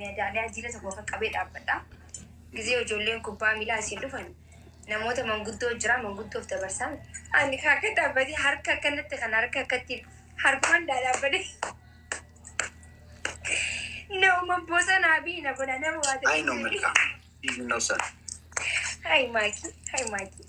Meedaaliyaa jiila tokko qaqqabee dhaabbadha. Gizee ijoolleen kubbaa miilaa asiin dhufan namoota manguddoo jiraa manguddoof dabarsaan ani kan akka dhaabbatee harka akkanatti kan harka akkatti harkaan dhaadhaabbatee nama bosonaa fi na bona nama waa ta'e. Ayi no mirga. No sir. Hayi maakii hayi maakii.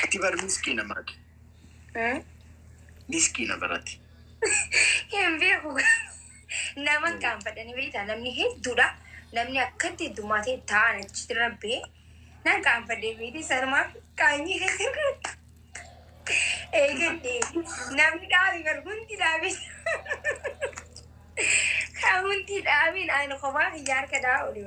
Itti bar miskiina maati. Miskiina barati. Hin beeku. Nama qaanfadhanii beektaa namni hedduudha. Namni akkatti heddumaa ta'e taa'an achitti rabbee nan qaanfadhee beekti sanumaa qaanyii eegadde namni dhaabe bar hundi dhaabe kan hundi dhaabin ani kophaa kiyya harka dhaa olii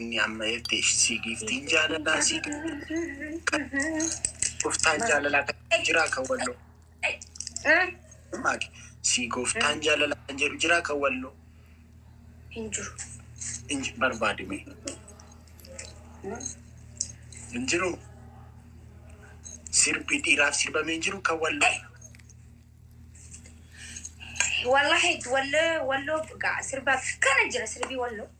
Inni amma ergte ishii giiftiin jaalalaa sii gooftaan jaalalaa kan jedhu jiraa kan walloo maaki sii gooftaan jaalalaa kan jedhu jiraa kan walloo Hin jiru. hin ji- barbaadi mee hin jiru sirbi dhiiraaf sirbamee hin jiru kan walloo Wallahi wallee walloo gaa sirbaaf kana jira sirbii walloo.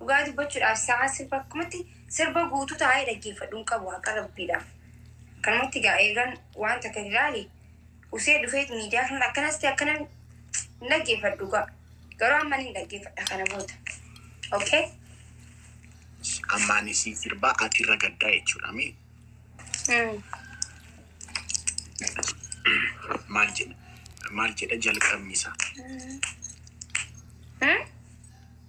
Dhugaa dubbachuudhaaf sa'aan sirba akkumatti sirba guutuu taa'ee dhaggeeffadhu hin qabu haqa rabbiidhaaf. Akkanumatti egaa eegan waan takka hin ilaale usee dhufeet miidiyaa kanarra akkanas ta'e akkana hin dhaggeeffadhu dhugaa. Garuu amma ni dhaggeeffadha kana booda. Okay? Ammaan siin sirbaa ati irra gaddaa jechuudha mee Mm. maal jedha maal jedha jalqabni isaa. Mm.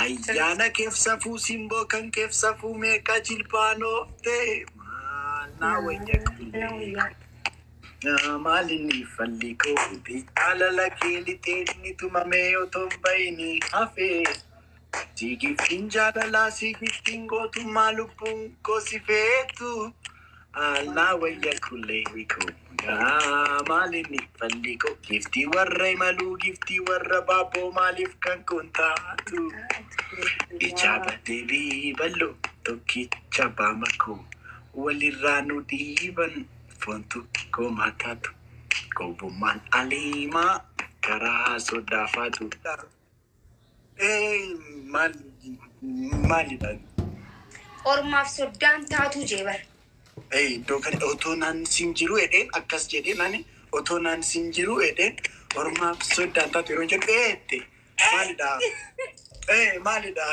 Ayyaana keef safuu simboo kan keef safuu meeqa jilbaan oofte maal naa wayya qilleeka naa maal inni falli koo ubi jaalala kee lixee inni tumamee otoon bayini hafee siigiftiin jaalalaa siigiftiin gootummaa lubbuun koo si feetu Allaa wayya kullee hikoo yaa maalinni falli koo giftii warra imaluu giftii warra baaboo maaliif kan kun taatu ijaa baddee biiballo tokkicha baama koo walirraa nu dhiiban fontu koo maataatu gowwummaan aliimaa karaa soddaafaatu. Ee, maal maalidha? Ormaaf soddaan taatuu jee bar. Ee, iddoo kana otoo naan siin jiruu jedheen akkas jedheen ani otoo naan siin jiruu jedheen ormaaf soddaan taatu yeroo jedhu ee jette maalidha? Ee maalidha?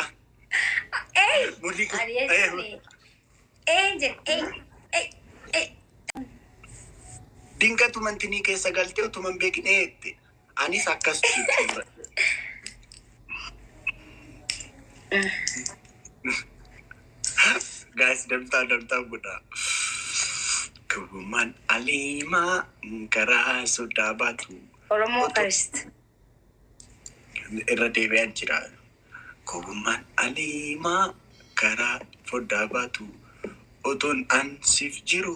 Ee! Mudhii kun- Ani ee, jechuun ee jedhe ee ee ee. Dinqatu mantinii keessa galtee utuman beekin ee jette Anis akkas jechuu bira. Gaas damtaa damtaa godhaa. Gowwummaan aliimaa karaa sodaa baatu. Oromoo first. Irra deebi'an jira. Gowwummaan aliimaa karaa foddaa baatu. Otoon an siif jiru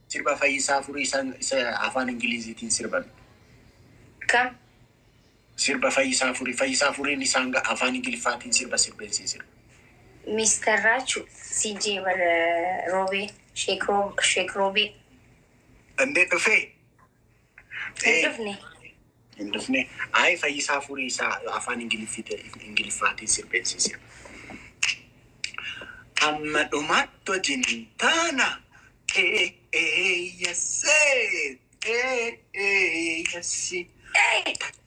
Sirba Fayyisaa Furii san isa afaan Ingiliiziitiin sirban. Kam? Sirba Fayyisaa Furii. Fayyisaa Furiin isaan ga- afaan Ingiliffaatiin sirba sirbeen siin sirba. Mister Raachu, CJ bar Roobee, Sheek Roo- Sheek Roobee. Dandee dhufee? Hin dhufne. Hin dhufne. Ayi fayyisaa furii isaa afaan ingiliffaatiin sirbeensii sirba. Amma dhumaatti wajjin hin taana. Eeyyasee eeyyassi. Eeyyassi.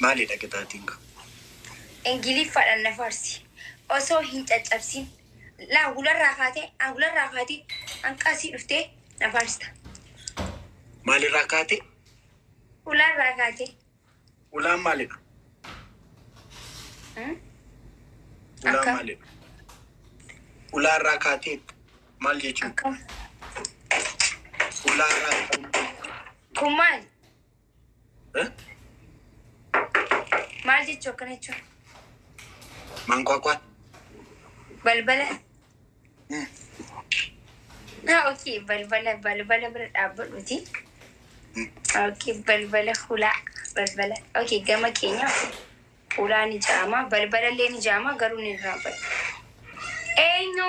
Maalidha qixaaxiin kun? Ingiliffadhan na faarsi osoo hin caccabsin. Laa hularraa kaatee an hularraa kaatee hanqa asii dhuftee na faarsta. Maalirraa kaatee? Hularraa kaatee. Ulaan maalidha? Hmm? Ulaan Akka- maalidha? Ulaarraa kaatee maal jechuudha? Akka Ulaarraa kun maali? Maal jechuu akkana jechuun? Mankwaakwaan. Balbala. Ah, ok. Balbala, balbala bira dhaabbadhuuti. Ok, balbala hulaa. Balbala. Ok, gama keenya hulaa ni jaama. Balbala illee ni jaama, garuu ni irraanfata. Eenyu?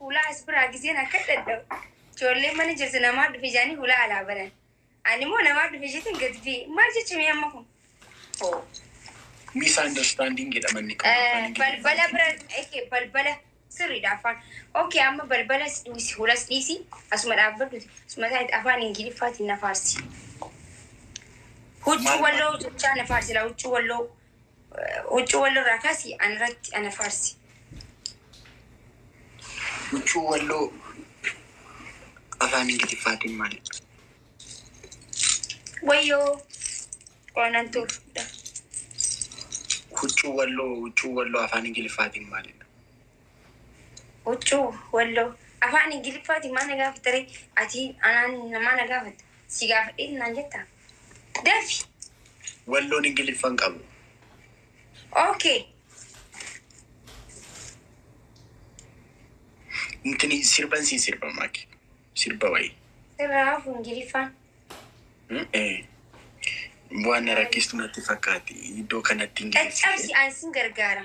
Hulaa as biraa gizeen akka dhadha'u. Ijoolleen mana jirtu namaa dhufe jaanii hulaa alaa banan. Ani immoo namaa dhufe jetin gad bee. Maal jechame amma kun? Oh. Misunderstanding jedha manni kun. Eh, balbala bira eke balbala sirriidha afaan okay amma balbala si dhiisi hulas dhiisi asuma dhaabbadhuti asuma taa'etti afaan ingiliffaatiin na faarsi huccuu Maal- walloo jechaa na faarsi laa huccuu walloo Huccuu walloo irraa kaasii ana irratti ana faarsi. Huccuu walloo afaan Ingiliffaatiin maal jedhama? Wayyoo qoonan tuufudha. Huccuu walloo huccuu walloo afaan Ingiliffaatiin maal jedhama? Huccuu, walloo, afaan Ingiliffaatiin maal na gaafatta ree? Ati anaan maal na gaafatta? Si gaafadheeti naan jettaa? Dafi! Walloon Ingiliffa hin qabu. Ok. Intini sirban sii sirba maaki. Sirba wayii. Sirraa hafu Ingiliffaan. Eh. Waan na rakkistu natti fakkaati. Iddoo kanatti Ingiliffa. Caccabsi an sin gargaara.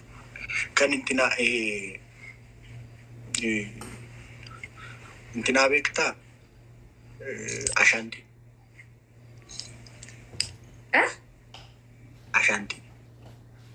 Kan itti naa itti naa beektaa ashaantii. Ashaantii.